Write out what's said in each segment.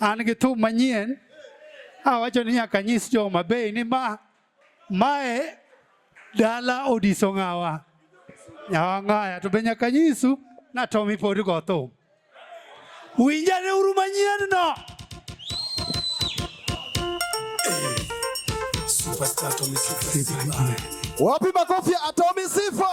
An gi thum manyien awacho ni nyaka nyis jo Homa Bay ni ma mae dala odiso ng'awa nyawang'aya to be nyaka nyisu na Tommy pod go thum. Winjane uru manyien no. Wapi makofi ya Atomi Sifa?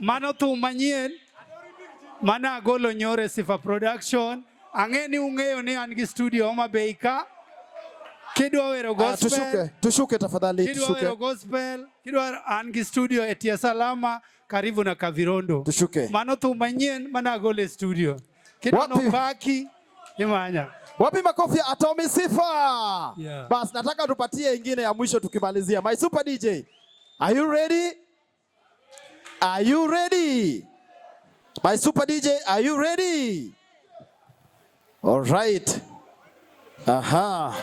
Mano thum manyien mane agolo nyoro e Sifa Production. Ang'e ni ung'eyo ni an gi studio Homa Bay ka. Kidwa wero ah, gospel. Tushuke, tushuke tafadhali, tushuke. Kidwa wero gospel, kidwa an gi studio e Tia Salama karibu na Kavirondo. Tushuke. Mano thum manyien mane agolo e studio. Kidwa nopaki imanya. Wapi makofi ya Atomi Sifa? Yeah. Bas, nataka tupatie ingine ya mwisho tukimalizia. My super DJ, are you ready? Are you ready? My super DJ, are you ready? All right. Aha.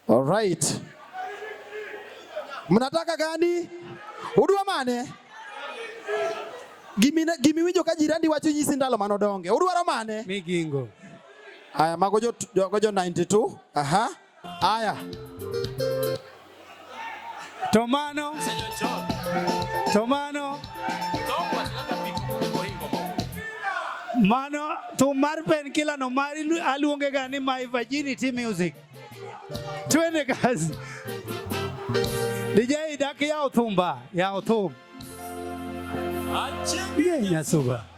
All right. Mnataka gani? Udwa mane? Gimi gimi winjo ka jirani wacho nyisi ndalo mano donge. Udwaro mane? Migingo. Aya mago jo, jo, jo 92. Aha. Aya, tomano tomano mano thum mar Penkiller no mar aluonge ga ni my virginity music. Twende kazi. DJ dak yaw thumba, yaw thum. Achieng' yeah, nyasuba.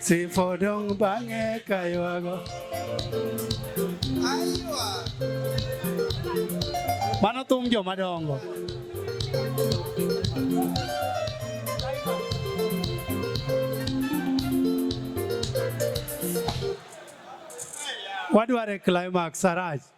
Sifodong bange kaywago. Aywa. Mano thum joma dongo. Wadware climax arach.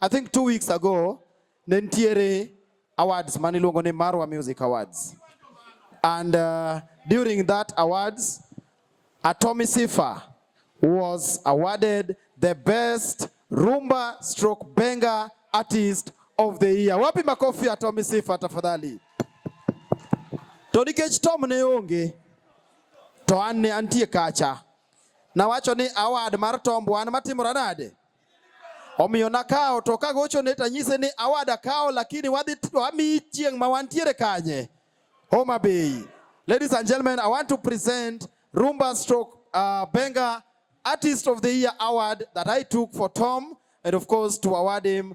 I think two weeks ago ne nitiere awards mane iluongo ni Marwa Music Awards and uh, during that awards Atomi Sifa was awarded the best rumba stroke benga artist of the year. Wapi makofi ya Tommy Sifa tafadhali. To nikech Tom ne onge to an ne antie kacha, nawacho ni award mar Tom wan matimore nade? Omiyo nakawo to kagochone to anyise ni awada kawo lakini wadhi wamiyi chieng' ma wantiere kanye Homa Bay. Ladies and gentlemen, I want to present Rumba Stroke uh, Benga Artist of the Year Award that I took for Tom and of course to award him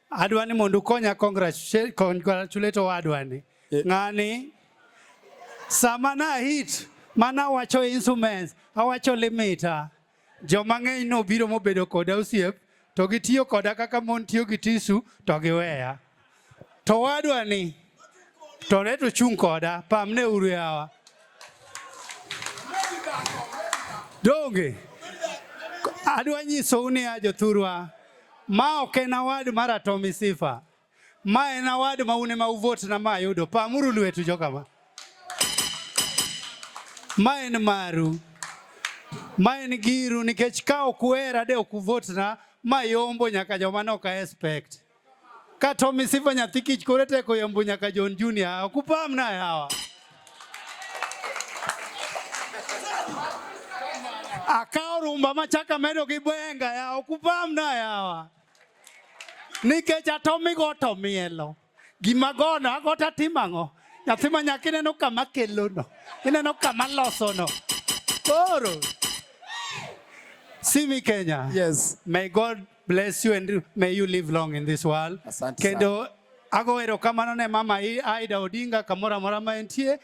Adwa ni mondo ukonya congratulate owadwa ni eh. ng'ani sama na hit mana wacho instruments awacho limita joma ng'eny nobiro mobedo koda osiep to gitiyo koda kaka mon tiyo gi tisu to giweya to wadwa ni tɔnɛ to tsun kɔ ɖa pam ne wuru ya wa donge adwa nyisou ni ajo thurwa ma ok en award mar atomi sifa ma en award ma une ma uvot na ma ayudo pamuru lwetu jokama ma en maru ma en giru nikech ka ok wera de ok uvot na ma yombo nyaka joma ne ok expect Katomi sifa nyathi kich kore teko yambo nyaka John Junior okupam na yawa akawo rumba machaka medo gi bwenga ya okupam na yawa nikech atomi go to mielo gima gono agota timang'o nyathi ma nyaka ineno kama kelono ineno kama losono koro simi Kenya yes may God bless you and may you live long in this world. Asante kendo ago erokamano ne mama Aida Odinga kamoro amora ma entie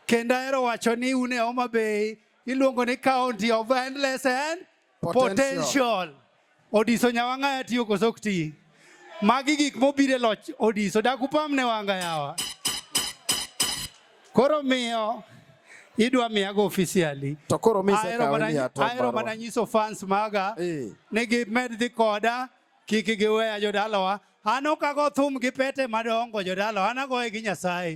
kendo ahero wacho ni une Homa Bay iluongo ni county of endless and potential, potential. Odiso nyawang'aya tiyo koso ok ti magi gik mobiro e loch Odiso dakupam ne wanga yawa Koro miyo idwa miya go officially to koro mi se ka ni ato ayro mana nyiso fans maga eh. ni gi med dhi koda kik gi weya jodalawa an okago thum gi pete madongo jodalawa an agoye gi nyasaye